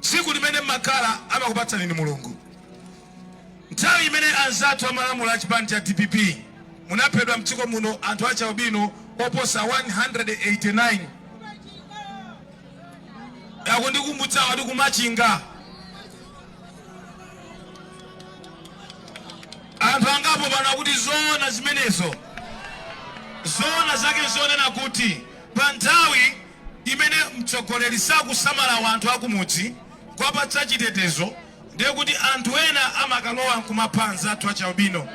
Tsiku limene mmakhala amakupatsani ndi Mulungu. Nthawi imene anzathu amalamula a chipani cha dpp munaphedwa mdziko muno anthu a chialbino oposa 189. Akundikumbutsa wa ku Machinga anthu angapo pano akuti zoona zimenezo. Zoona zake nzonena kuti pa nthawi imene mtsogoleri sakusamala wanthu akumudzi kuwapatsa chitetezo ndiye kuti anthu ena amakalowa nkumapha anzathu achialbino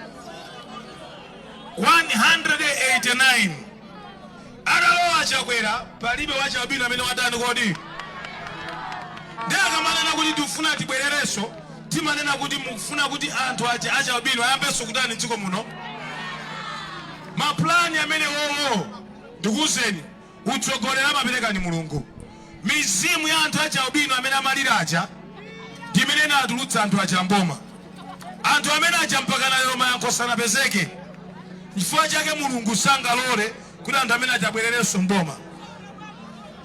189 atalowa Chakwera palibe wachialbino amene watani kodi ndiye akamanena kuti tifuna tibwererenso timanena kuti mukufuna kuti anthu aja achialbino ayambenso kutani mdziko muno mapulani amene wowo ndikuwuzeni Utsogoleri amapereka ndi Mulungu. Mizimu ya anthu achialbino amene amalira aja ndi imene inawatulutsa anthu aja m'boma. Anthu amene aja mpakana lero mayankho sanapezeke. N'chifukwa chake Mulungu sangalole kuti anthu amene aja abwererenso m'boma.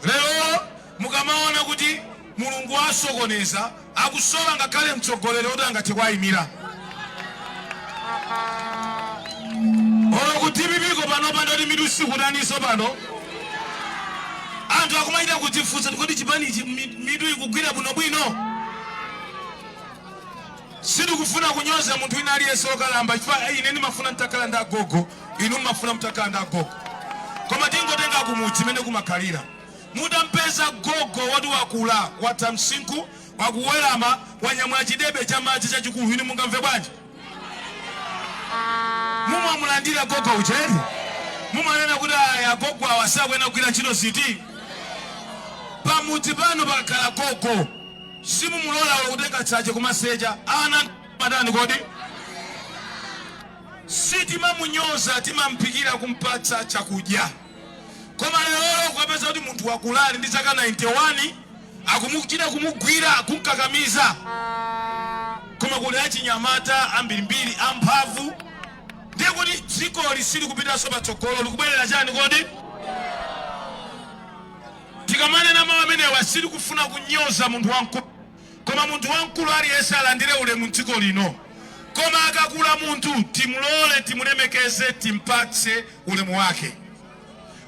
Lero Mukamaona kuti Mulungu waasokoneza, akusowa ngakhale mtsogoleri woti angathe kuwaimira. Olo ku dpp ko panopa ndi oti mitu sikutaninso pano. Anthu akumachita kudzifunsa kuti kodi chipanichi mi- mitu ikugwira bwinobwino? Sitikufuna kunyoza munthu wina aliyense wokalamba chifukwa ine ndimafuna nditakhala ndi agogo, inu mumafuna mutakhala ndi agogo. Koma tingotenga kumudzi mmene kumakhalira. Mutampeza gogo woti wakula, watha msinkhu, akuwerama, wanyamula chidebe cha madzi chachikulu, inu mungamve bwanji? Mumamulandira gogo uja eti? Mumanena kuti, Ayi, agogo awa sakuyenera kugwira ntchito ziti? Pamudzi panu pakakhala gogo, simumulola olo kutenga tsache kumasesa. Ana amatani kodi? Sitimamunyoza, timamphikira kumpatsa chakudya. Koma lerolo kukapeza kuti munthu wakula ali ndi zaka 91 akumuchita kumugwira, kumkakamiza. Koma kuli achinyamata ambirimbiri amphamvu ndiye kuti dzikoli silikupitanso patsogolo likubwerera chani kodi? Tikamanena mau amenewa sitikufuna kunyoza munthu wamkulu. Koma munthu wamkulu aliyense alandire ulemu m'dziko lino, koma akakula munthu, timlole, timulemekeze, timpatse ulemu wake.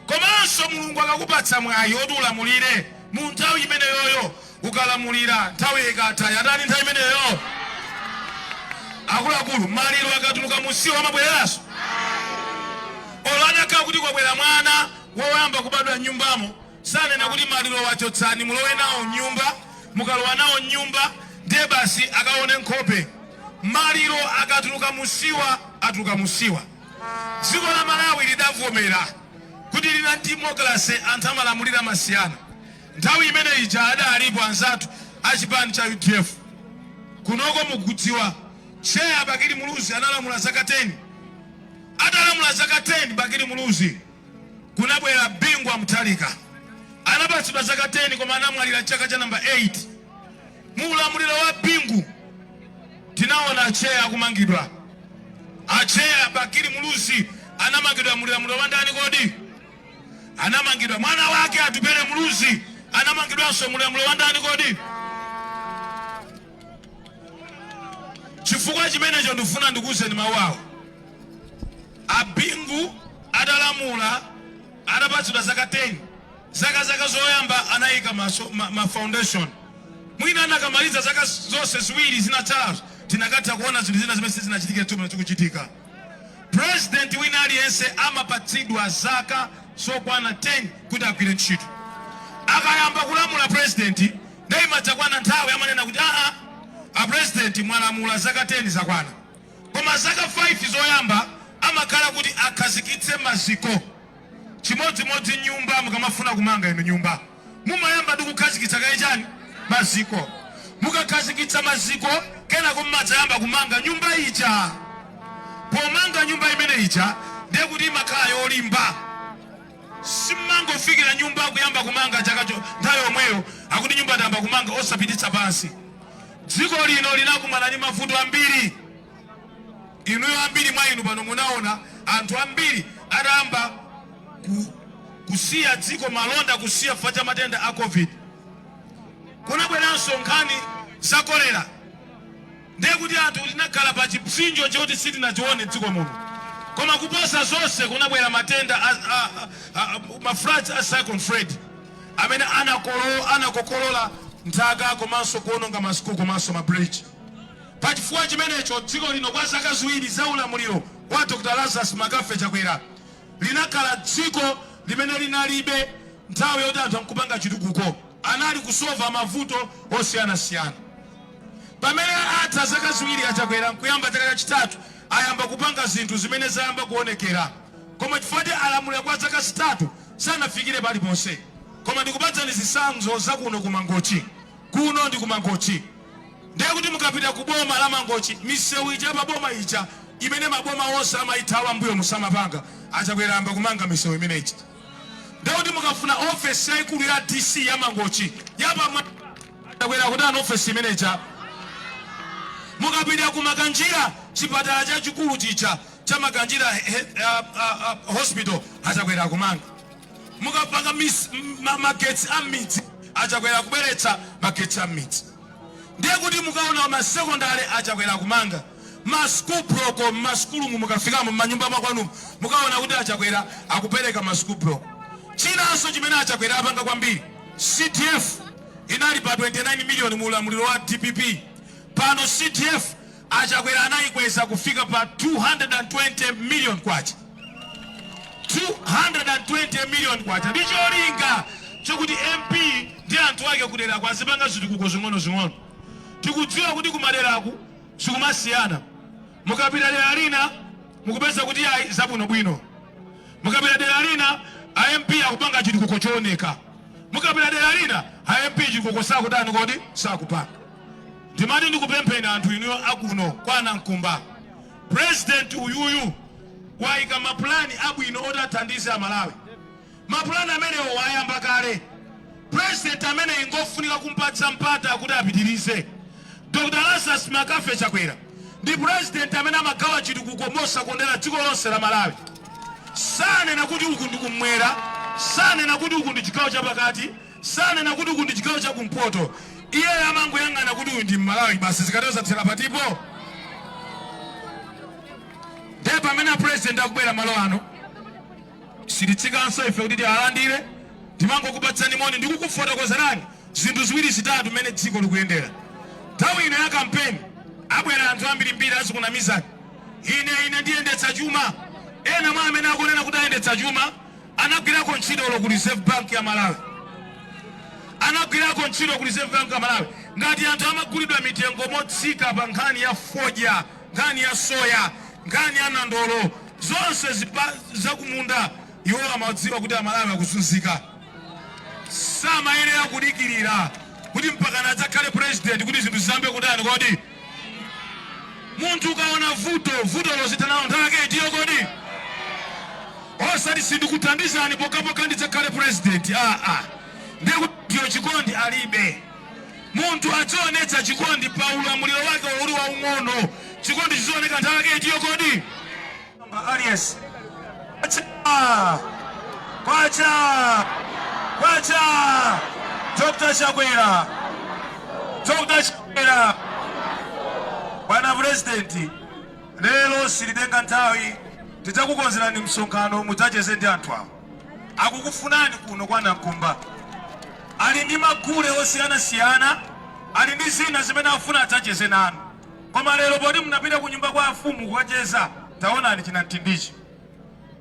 Komanso, Mulungu akakupatsa mwayi woti ulamulire, mu nthawi imeneyoyo ukalamulira, nthawiyo ikatha. Yatani nthawi imeneyo? Akuluakulu, maliro akatuluka munsiwa amabwereranso? Olo atakhala kuti kwabwera mwana woyamba kubadwa m'nyumbamo, Sanena kuti malirowa chotsani mulowe nawo m'nyumba, mukalowa nawo m'nyumba ndiye basi akaone nkhope. Maliro akatuluka m'siwa atuluka m'siwa. Dziko la Malawi lidavomera kuti lina democracy anthu amalamulira masiyana. Nthawi imene ija adalipo anzathu a chipani cha udf. Kunoko mukudziwa tcheya Bakili Muluzi analamula zaka 10. Atalamula zaka 10 Bakili Muluzi. kunabwera Bingu wa Mutharika. Anapatsidwa zaka 10 koma anamwalira chaka cha number 8. Mu ulamuliro wa Bingu tinaona atcheya akumangidwa. Atcheya a Bakili Muluzi anamangidwa mu ulamuliro wa ndani kodi? Anamangidwa mwana wake Atupele Muluzi anamangidwanso mu ulamuliro wa ndani kodi? Chifukwa chimenecho ndifuna ndikuuzeni mawu awo. A Bingu atalamula atapatsidwa zaka 10 zaka zaka zoyamba anayika ma, so, ma, ma foundation mwina akanamaliza zaka zonse ziwiri zinatsalazo tikanatha kuona zinthu zina zimene sizinachitike tsopano zikuchitika. President wina aliyense amapatsidwa zaka zokwana 10 kuti agwire ntchito. Akayamba kulamula president ndiye imadzakwana nthawi amanena kuti aa a president mwalamula zaka 10 zakwana. Koma zaka 5 zoyamba amakhala kuti akhazikitse maziko. Chimodzimodzi nyumba mukamafuna kumanga inu nyumba mumayamba ndi kukhazikitsa kaye chani? Maziko. Mukakhazikitsa maziko kenako mumadzayamba kumanga nyumba ija. Pomanga nyumba imene ija ndiye kuti imakhala yolimba. Simumangofikira nyumba kuyamba kumanga chakacho nthawi yomweyo akuti nyumba tayamba kumanga osapititsa pansi. Dziko lino linakumana ndi mavuto ambiri. Inuyo ambiri mwa inu pano munaona anthu ambiri atayamba ku kusiya dziko malonda kusiya chifukwa cha matenda a Covid. Kunabweranso nkhani za kolera ndiye kuti anthu tinakhala pa chipsinjo choti sitinachione m'dziko muno. Koma kuposa zonse kunabwera matenda a, a, a, a, ma floods a Cyclone Freddy. amene anakokolola nthaka komanso kuononga ma school komanso ma bridge. Pa chifukwa chimenecho dziko lino kwa zaka ziwiri za ulamuliro wa Dr Lazarus McCarthy Chakwera linakhala dziko limene linalibe nthawi yoti anthu nkupanga chitukuko anali kusova mavuto osiyanasiyana. Pamene atha zaka ziwiri a Chakwera nkuyamba chaka chachitatu ayamba kupanga zinthu zimene zayamba kuonekera koma chifukwa choti alamulira kwa zaka zitatu sanafikire paliponse koma ndikupatsani zitsanzo za kuno ku mangochi kuno ndi ku mangochi ndiye kuti mukapita ku boma la mangochi misewu ija pa boma ija imene maboma onse amayithawa mbuyo musamapanga achakwera ayamba kumanga misewu imene ija ndiye kuti mukafuna ofesi yayikulu ya dc ya mangochi yapamwa achakwera akutani ofesi imene ija mukapita ku makanjira chipatala chachikulu chija cha Makanjira hospital achakwera akumanga mukapanga magetsi a mmidzi achakwera akubweretsa magetsi a mmidzi ndiye kuti mukaona masekondale achakwera akumanga masukulu buloko mmasukulumu mukafikamo mmanyumba makwanumu mukaona kuti achakwera akupereka masukulu buloko chinanso chimene achakwera apanga kwambiri cdf inali pa 29 miliyoni mu ulamuliro wa dpp pano cdf A Chakwera anayikweza kufika pa K220 million, K220 million, ndi cholinga chokuti MP ndi anthu ake kuderaku azipanga zitukuko zing'onozing'ono. Tikudziwa kuti kumaderaku sikumasiyana, mukapita dera lina mukupeza kuti ayi zabwinobwino, mukapita dera lina a MP akupanga chitukuko chooneka, mukapita dera lina a MP chitukuko sakutani kodi, sakupanga. Ndimati ndikupempheni anthu inuyo akuno kwa Nankumba, president uyuyu waika ma plan abwino oti athandize a Malawi. Ma plan amenewo wayamba kale. President ameneyi ngofunika kumpatsa mpata kuti apitirize. Dr. Lazarus McCarthy Chakwera ndi president amene amagawa chitukuko mosakondera dziko lonse la Malawi. Sanena kuti uku ndi kummwera, sanena kuti uku ndi chigawo chapakati, Sanena kuti uku ndi chigawo cha kumpoto. Iyeyo amangoyang'ana kuti uyu ndi Mmalawi basi. Zikatero zathera pati apo? Ndiye pamene a President akubwera malo ano, sititsikanso ife kuti tialandire, timangokupatsani moni ndi kukufotokozerani zinthu ziwiri zitatu mmene dziko likuyendera. Nthawi ino ya kampeni abwera anthu ambirimbiri azikunamizani, ine ine ndiyendetsa chuma. Ena mwa amene akunena kuti ayendetsa chuma Anagwirako ntchito olo ku Reserve Bank ya Malawi. Anagwirako ntchito ku Reserve Bank ya Malawi. Ngati anthu amagulidwa mitengo motsika pa nkhani ya fodya, nkhani ya soya, nkhani ya nandolo, zonse zipa, zakumunda, iwo amadziwa kuti Amalawi akuzunzika. Samayenera kudikirira kuti mpakana adzakhale president kuti zinthu ziyambe kutani kodi. munthu ukaona vuto vuto lozitha nalo nthawi yake itiyo kodi osati sindikuthandizani pokhapokha ndidzakhale president aa ah, ah. nde kuti iwo chikondi alibe munthu adzionetsa chikondi pa ulamuliro wake uli waung'ono chikondi chizioneka nthawi yake itiyo kodi aliyense kwacha kwacha kwacha dr chakwera dr chakwera bwana purezidenti lero silitenga nthawi tidzakukonzerani msonkhano mudzacheze ndi anthu awo akukufunani kuno kwa nankumba ali ndi magule osiyanasiyana ali ndi zina zimene afuna adzacheze nanu Koma lero poti munapita kunyumba kwa amfumu kukacheza taonani chinamtindichi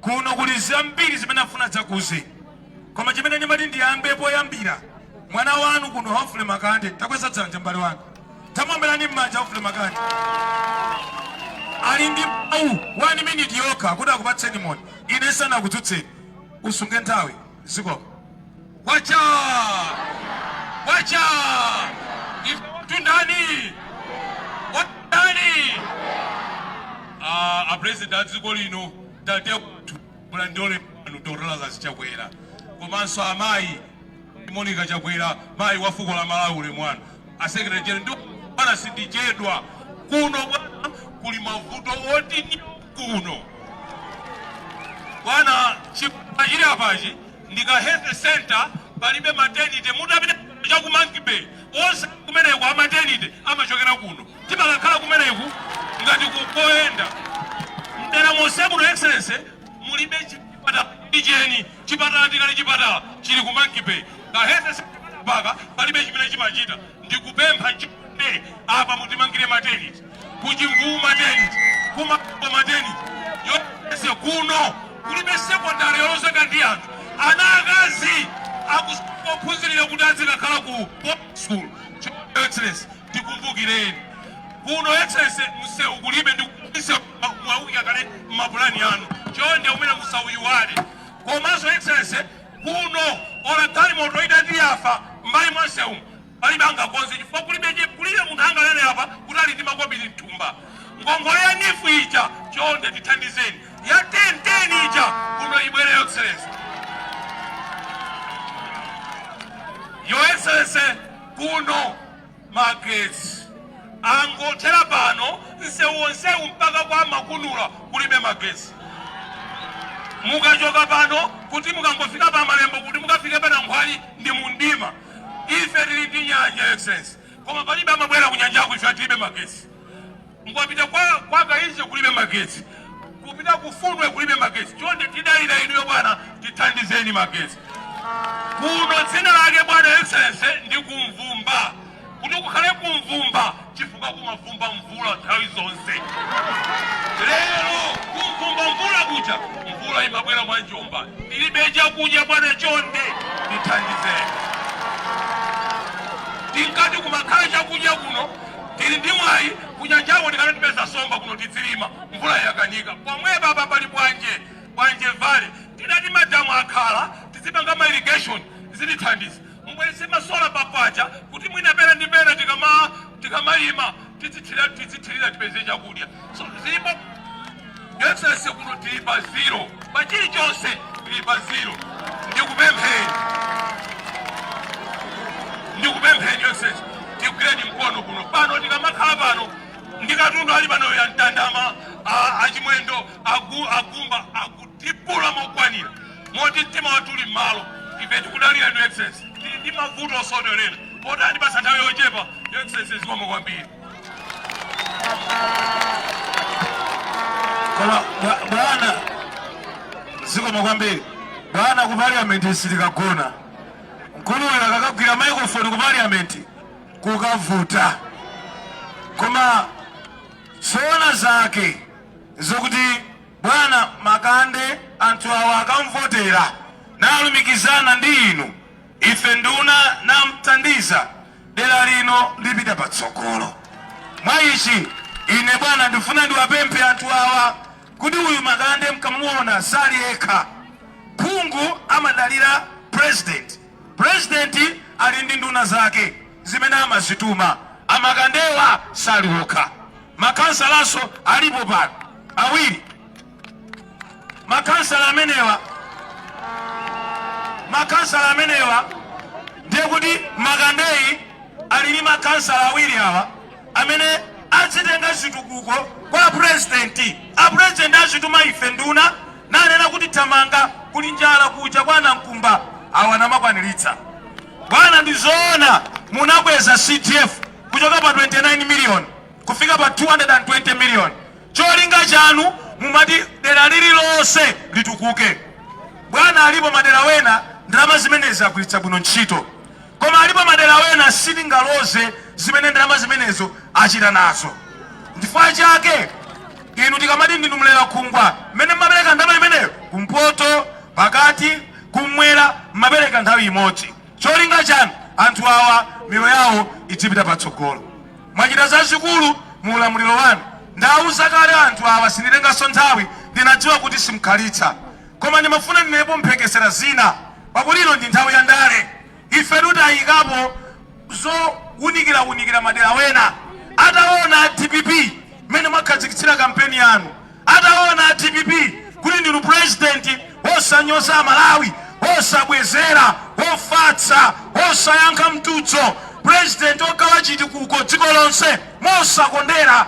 kuno kuli zambiri zimene afuna adzakuuzeni koma chimene ndimati ndiyambe poyambira mwana wanu kuno Humphrey Makande takweza dzanja mbale wanu tamuwombereni mmanja Humphrey Makande ali ndi mawu one minute yokha kuti akupatseni moni ine sanakudzutseni usunge nthawi zikomo kwacha kwacha ife watu ndani watu ndani Ah, a president a dziko lino tate wathu mulandole pano dr lazarus chakwera komanso amayi monica chakwera mayi wa fuko la malawi ulemu wanu asekretary general ndi bwana sindichedwa kuno bwana kuli mavuto oti ni kuno bwana chipatala chili apachi ndika health centre palibe maternity mutapita cha ku monkey bay onse kumeneko amaternity amachokera kuno timakakhala kumeneko ngati mukayenda mdera monse muno excellency mulibe chipatala cheni Chipatala tikuti chipatala chili ku monkey bay ka health centre mpaka palibe chimene chimachita ndikupempha chonde apa mutimangire maternity ku chimvuwu maternity ku mapo maternity yonse kuno kulibe secondary yolozeka ndi anthu ana akazi akufunikira kuti azikakhala ku boarding school Your excellency tikumbukireni kuno excellency msewu kulibe ndi msewu mwauika kale mmapulani anu chonde umene musauyiwale komanso excellency kuno ola galimoto idati yafa mbali mwa msewu palibe angakonze chifukwa kulibe chi- kulibe munthu anganene apa kuti ali ndi makobiri mthumba ngongole ya nifu ija chonde tithandizeni ya ten ten ija kuno ibwere your excellency your excellency kuno magetsi angothera pano nsewu wonsewu mpaka kwa makunula kulibe magetsi mukachoka pano kuti mukangofika pa malembo kuti mukafike pa nankhwali ndi mumdima ife tili ndi nyanja excellency koma palibe amabwera kunyanjaku ife tilibe magetsi Mukapita kwa Kainje kulibe magetsi, kupita ku Fundwe kulibe magetsi. Chonde tidalira inuyo bwana, tithandizeni magetsi kuno. Dzina lake bwana excellency ndi kumvumba, kuti kukhale kumvumba chifukwa kumavumba mvula nthawi zonse. Lero kumvumba mvula kuja mvula imabwera mwa njomba, tilibe chakudya bwana, chonde tithandizeni. Tinkati kumakhala chakudya kuno Tili ndi mwayi kunyanjako tikana tipeza nsomba kuno tidzilima mvula yakanika pomwepa apa pali bwanje bwanje valley tidati madamu akhala tidzipanga ma irrigation zitithandiza mubweretse ma solar pa kwacha kuti mwina pena ndi pena tikamalima tidzithirira tipeze chakudya so zilipo Excellency kuno tili pa zero pa chilichonse tili pa zero ndikupempheni ndikupempheni excellency tigwireni mkono kuno pano tikamakhala pano ndikatundu ali pano ya mtandama achimwendo agumba akutipula mokwanira moti mtima wathu uli m'malo ife tikudalira inu excellency tili ndi mavuto osodolera poti andipatsa nthawi yochepa excellency zikomo kwambiri Koma bwana zikomo kwambiri bwana ku parliament sitikagona mkuluyo akakagwira microphone ku parliament kukavuta koma zoona zake zokuti bwana makande anthu awa akamvotera nalumikizana ndi inu Ife nduna namthandiza, dera lino lipita patsogolo. Mwa ichi ine bwana ndifuna ndiwapemphe anthu awa kuti uyu Makande mkamuona sali yekha. Phungu amadalira president, president ali ndi nduna zake zimene amazituma. A Makandewa sali okha, makhansalanso alipo pano awiri. makhansala amenewa ndiye kuti makandeyi ali ndi makhansala awiri awa amene azitenga zitukuko kwa apurezidenti apurezidenti azituma ife nduna nanena kuti thamanga kuli njala kuja kwa namkumba awa namakwaniritsa bwana ndizoona munakweza cdf kuchoka pa 29 million kufika pa 220 million Cholinga chanu mumati dera lililonse litukuke bwana alipo madera wena ndalama zimenezi agwiritsa bwino ntchito koma alipo madera wena sitingaloze zimene ndalama zimenezo achita nazo nchifukwa chake inu tikamati ndinu mlera khungwa mmene mmapereka ndalama imeneyo kumpoto pakati kumwera mmapereka nthawi imodzi cholinga chanu anthu awa miyoyo yawo idzipita patsogolo Mwachita zazikulu mu ulamuliro wanu. Ndawauza kale anthu awa sinditenganso nthawi, ndinadziwa kuti simukhalitsa. Koma ndimafuna ndinenepo mphekesera zina pakuti ino ndi nthawi ya ndale. Ifetu tayikapo zowunikira-wunikira madera wena. Atawona a dpp mmene mwakhazikitsira kampeni yanu, Ataona a dpp kuti ndinu president wosanyoza amalawi wosabwezera wofatsa wosayankha mtudzo president ogawa chitikuko dziko lonse mosakondera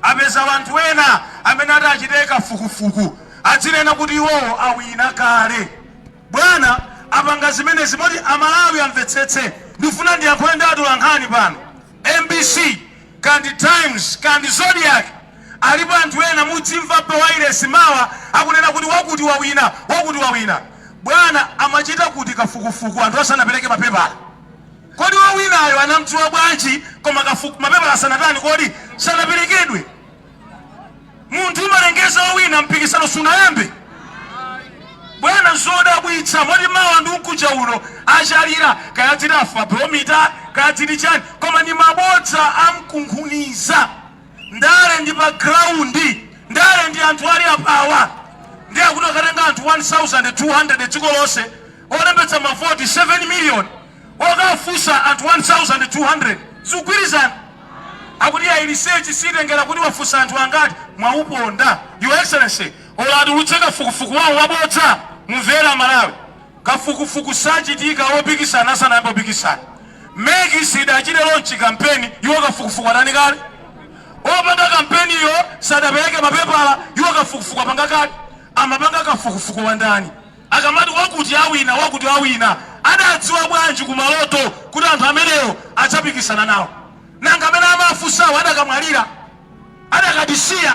apeza wanthu wena amene ati achite kafukufuku adzinena kuti iwowo awina kale bwana apanga zimenezi moti amalawi amvetsetse ndifuna ndiyankhule ndi atolankhani pano mbc Kaya ndi times kaya ndi zodiak alipo anthu ena mudzimva pa wailesi mawa akunena kuti wakuti wawina wakuti wawina bwana amachita kuti kafukufuku anthu asanapeleke mapepala kodi wawinayo anamdziwa bwanji koma kafuku mapepala asanatani kodi sanapelekedwe munthu umalengeza owina mpikisano sunayambe bwana zodabwitsa moti mawa ndi mkuja uno achalira kaya dziti afrobarometer kaya dziti chani koma ndi mabodza amkunkhuniza ndale ndi pa ground ndale ndi anthu ali apawa ndi akuti akatenga anthu 1200 dziko lonse olembetsa mavoti 7 million okafunsa anthu 1200 zikugwirizana? Akuti ayi research siitengera kuti wafunsa anthu angati, mwauponda your excellency. Olo atulutse kafukufuku wawo wabodza mumvere amalawi. Kafukufuku sachitika opikisana asanayambe kupikisana. Mec siidachite launch kampeni iwo kafukufuku atani kale? Opanga kampeniyo sadapeleke mapepala iwo kafukufuku apanga kale? Amapanga kafukufuku wandani? Akamati wakuti awina, wakuti awina, adadziwa bwanji ku maloto kuti anthu amenewo adzapikisana nawo? Nanga amene amawafunsawo adakamwalira? Adakatisiya?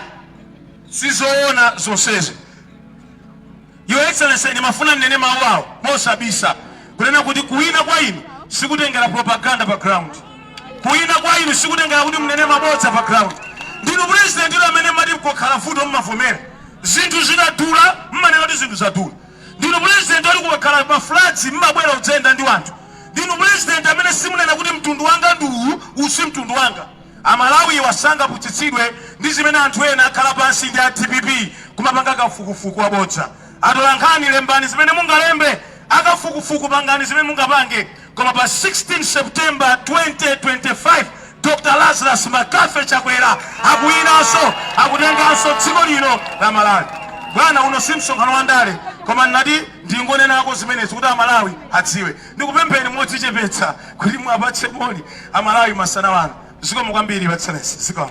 Sizoona zonsezi. Your Excellency, ndimafuna ndinene mawu awa mosabisa kunena kuti kuwina kwa inu sikutengera propaganda pa ground. Kuwina kwa inu sikutengera kuti mnene mabodza pa ground. Ndinu president inu amene mati kukakhala vuto mmavomera. zinthu zikadula mmanena kuti zinthu zadula ndinu president oti kukakhala ma floods mmabwera kudzayenda ndi wanthu ndinu president amene simunena kuti mtundu wanga ndi uwu uwu si mtundu wanga amalawiwa sangaputsitsidwe ndi zimene anthu ena akhala pansi ndi a dpp kumapanga kafukufuku wabodza atolankhani lembani zimene mungalembe akafukufuku pangani zimene mungapange Koma pa 16 September 2025 Dr Lazarus McCarthy Chakwera akuwinanso akutenganso dziko lino la Malawi. Bwana uno si msonkhano wa ndale koma ndinati ndingonenako zimenezi kuti Amalawi adziwe. Ndikupempheni modzichepetsa kuti muwapatse moni Amalawi masana ano. Zikomo kwambiri Your Excellency. Zikomo.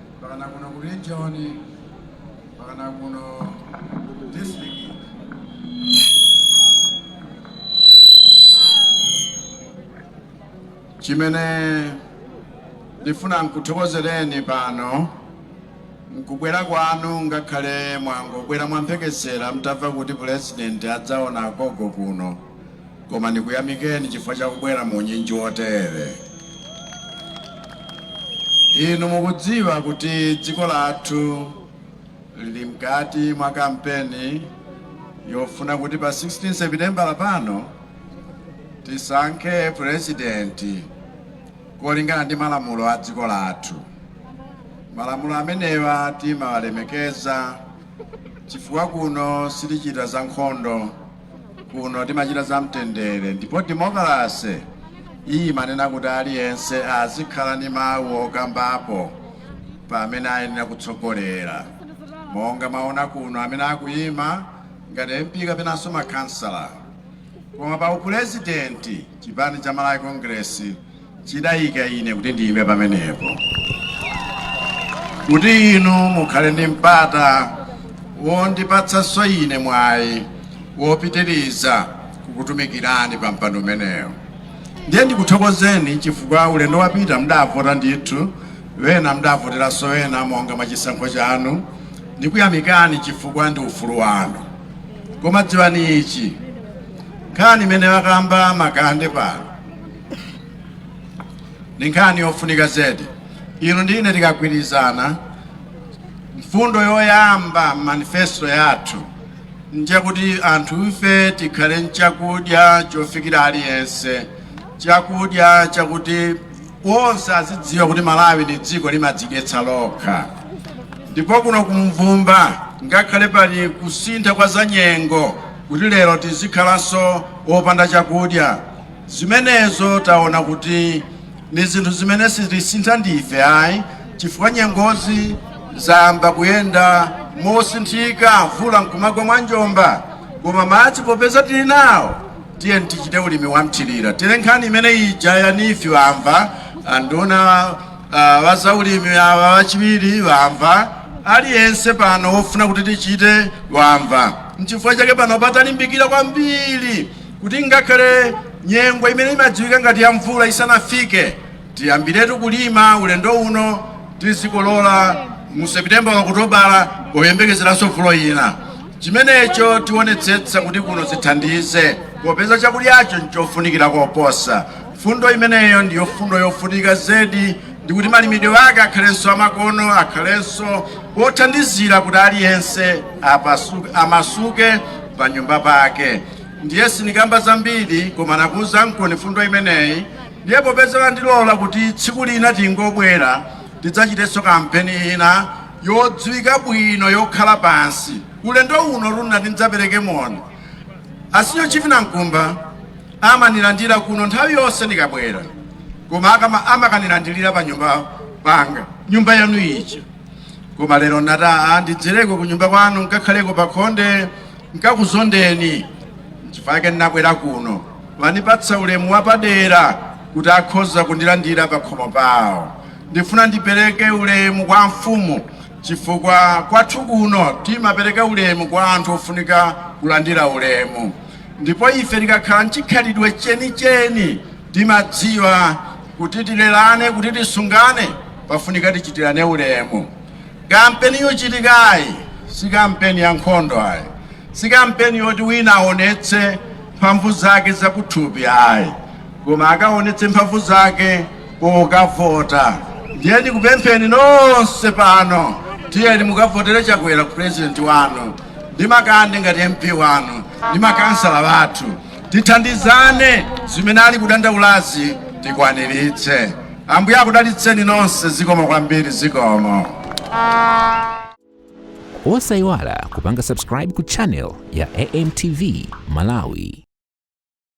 pakana kuno ku region pakana kuno ku district chimene ndifuna nkuthokozereni pano nkubwera kwanu ngakhale mwangobwera mwamphekesera mutamva kuti pulezidenti adzaona agogo kuno koma ndikuyamikeni chifukwa cha kubwera mu unyinji wotere. Inu mukudziwa kuti dziko lathu lili mkati mwa kampeni yofuna kuti pa 16 sepitembala pano tisankhe purezidenti kolingana ndi malamulo a dziko lathu. Malamulo amenewa timawalemekeza chifukwa kuno sitichita za nkhondo kuno timachita za mtendere ndipo demokalase iyi imanena kuti aliyense azikhala ndi mawu okambapo pa amene ayenera kutsogolera monga mwaona kuno amene akuyima ngati mp kapenanso makhansala koma pa upulezidenti chipani cha malawi congress chidayika ine kuti ndiyime pamenepo kuti inu mukhale ndi mpata wondipatsanso ine mwayi wopitiriza kukutumikirani pa mpando umenewo ndiye ndikuthokozeni chifukwa ulendo wapita mdavota ndithu wena mdavoteranso wena monga mwa chisankho chanu ndikuyamikani chifukwa ndi ufulu wanu koma dziwani ichi nkhani imene wakamba a Makande pano ndi nkhani yofunika zedi inu ndi ine tikagwirizana mfundo yoyamba m'manifesto yathu njakuti anthu ife tikhale nchakudya chofikira aliyense chakudya chakuti onse azidziwa kuti malawi ndi dziko limadzidyetsa lokha ndipo kuno ku Mvumba ngakhale pali kusintha kwa zanyengo kuti lero tizikhalanso opanda chakudya Zimenezo taona kuti ni zinthu zimene sitizisintha ndife ayi, chifukwa nyengozi zayamba kuyenda mosinthika, mvula nkumagwa mwanjomba. Koma madzi popeza tili nawo, tiyeni tichite ulimi wa mthirira. Tere nkhani imene ija ya nifi wamva, anduna wa zaulimi awa wachiwiri wamva, aliyense pano wofuna kuti tichite wamva. Nchifukwa chake pano patalimbikira kwambiri kuti ngakhale nyengo imene imadziwika ngati ya mvula isanafike tiyambiretu kulima ulendo uno tizikolola mu sepitembala okutobala poyembekezeranso mvula ina chimenecho tionetsetsa kuti kuno zithandize popeza chakudyacho nchofunikira koposa fundo imeneyo ndiyo fundo yofunika zedi ndikuti malimidwe ake akhalenso amakono akhalenso othandizira kuti aliyense amasuke pa nyumba pake ndiye sinikamba zambiri koma nakuuzankoni fundo imeneyi ndiye popeza andilola kuti tsiku lina tingobwera tidzachitenso kampeni ina yodziwika bwino yokhala pansi ulendo uno nnati ndidzapereke moni a Senior Chief a Mkumba amanilandira kuno nthawi yonse ndikabwera koma amakanilandilira pa nyumba panga nyumba yanu ija koma lero nati aa ndidzereko ku nyumba kwanu nkakhaleko pa khonde nkakuzondeni nchifukwa chake ndinabwera kuno wandipatsa ulemu wapadera kuti akhoza kundilandira pakhomo pawo ndifuna ndipereke ulemu kwa mfumu chifukwa kwathu kuno timapereka ulemu kwa anthu ofunika kulandira ulemu ndipo ife tikakhala mchikhalidwe chenicheni timadziwa kuti tilelane kuti tisungane pafunika tichitirane ulemu Kampeni yochitikayi si kampeni ya nkhondo ayi, si kampeni yoti wina aonetse mphamvu zake zakuthupi ayi, koma akaonetse mphamvu zake pokavota. Ndiye ndikupempheni nonse pano, tiyeni mukavotere Chakwera purezidenti wanu ndi Makande ngati MP wanu ndi makansala wathu. tithandizane zimene ali kudandaulazi tikwaniritse. Ambuye akudalitseni nonse, zikomo kwambiri, zikomo. Osaiwala kupanga subscribe ku channel ya AMTV Malawi.